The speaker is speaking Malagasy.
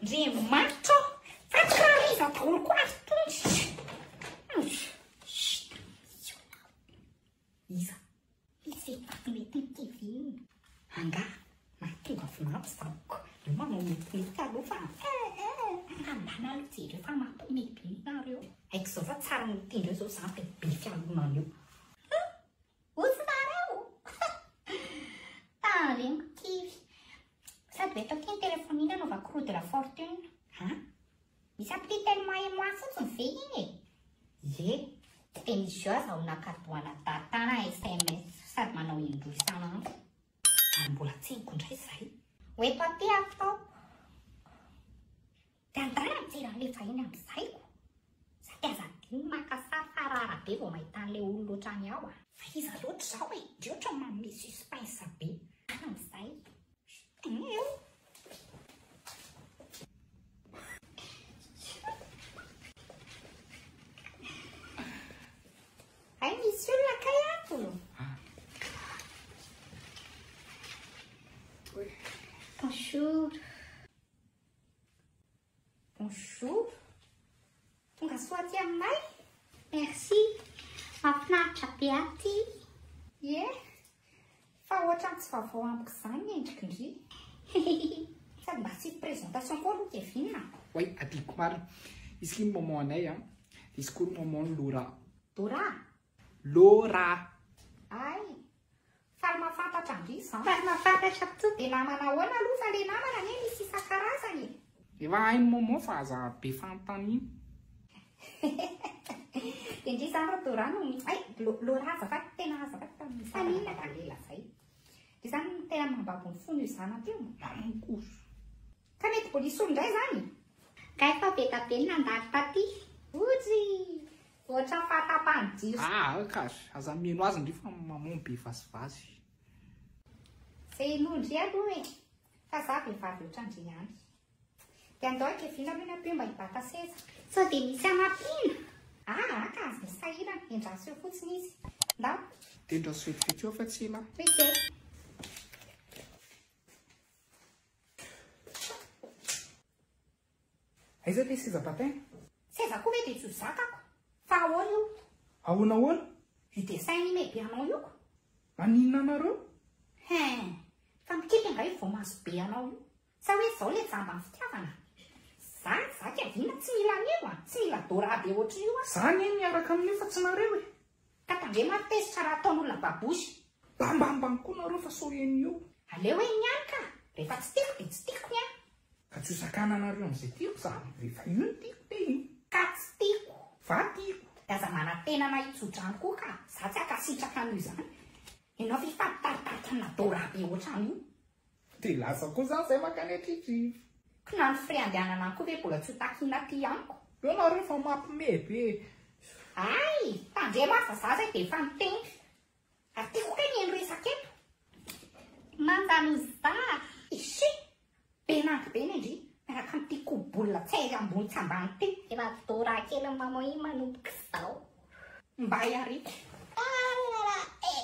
Ndry maitso fa tsy hariva daholo koa ary tonjitra. Iza? Izy efa mety ny kiviny. Anga mahatonga vinanto izako. Io manao mety mety aloha fa ambana aloha jereo fa mety mety nareo. Aiko izao fa tsara miteny eo izao za be fialonana eo. Ozy nareo! Talenko kivy! Sady ve tao ty ny telefonina anaovako roue de la fortune? Ha? Misy appli tellement et moi fotsiny ve iny e? Ie! Teny Joa zaho nakadoana data na sms sady manao indroa isan'andro. Ary mbola tseniko indray izay! Ho eto aty aho! Dia angaha tsy ralefa eny amin'ny saiko? Zay aza adino maka sary fa rara be vao mahita an'ilay olona otrany aho a! Fa iza loatra izao e? Ndry ohatra manome suspense be an amin'izay Hay misy olona kay ato? Bonjour. Bonjour. Tonga soa aty aminay. Merci. Mahafinaritra be aty. Ie. Fa ohatran'ny tsy vaovao amiko izany ny endrikindry. Sady mba tsy présentation koa aloha Kevin. Oui, adiko marina. Izy ity ny maman anay a. Izy koa ny maman Laura. Dora, Laura. Ay. Faly mahafantatra ange zan. Faly mahafantatra to de namana ahoana aloha fa le namana anie misy isan-karazany e. Efa hain'i Momo fa aza be fanontaniana. Dia ndry izany ry Dora no ay Laura azafady tena azafady fa mifanina ka le lazay. Dia izany no tena mambabo ny fon'io zanany teo. Mamonkoso. Ka mety bolisolo indray izany? Kay fa be da be ny nandalo taty. Ojy! Ohatran fahatapahan jiro. Ah ok ar, aza mihaino azy ndry fa maman be vazivazy. Ze inoa ndry aloha e, fa za vehivavy otrandry ihany. De andao akevina aloha ny ampio mba hibata seza. Sao dia misy hanampiana? Aa ka aza misy sahirana, endraso eo fotsiny izy. Ndao. Dia endraso vetivety eo fa tsy ela an. Ok. Aiza ty seza patin? Seza koa ve de tsy ho zakako? Fa ahoana io? Ahoana ahoana? Vue dessin anime be anao io ko! Maninona anareo? Hein! Fa mikiky angaha io voamaso be anao io? Sa hoe zao le jamba ny fitiavana? Za, za Kevin tsy mila an'io a! Tsy mila Dora be ohatrin'io aho! Za anie miaraka amin'io fa tsy nareo e! Ka tandremo ary tezitra raha ataon'olona babosy. Bambambam koa nareo fa sao eny io. Aleo eny ihany ka! Rehefa tsy tiako dia tsy tiako ny ahy. Ka tsy ho sakana anareo amin'izay tiako za. Rehefa io no tiako dia io. Ka tsy tiako. Fa tiako. Dia aza manantena na hitso-drano koa ka! Za tsy hankasitraka an'io izany. Ianao ve hifady taritaritra amin'adorable ohatran'io. Dia lasa koa za zay makany atritrivi. Ko na ny frais andehanana any koa ve bola tsy ho takina aty amiko. Eo nareo fa mapme be e. Hay! Tandremo ary fa za zay dia efa niteny. Ary tiako kay mihaino resaka eto. Mandanozda a! Ishi! Be nag be ne ndry miaraka amin'ity koa bola tsy hay ambony tsy ambany ity. Ravidoraa kely mamoy manomboka izao. Mba iariko. Alalala eh.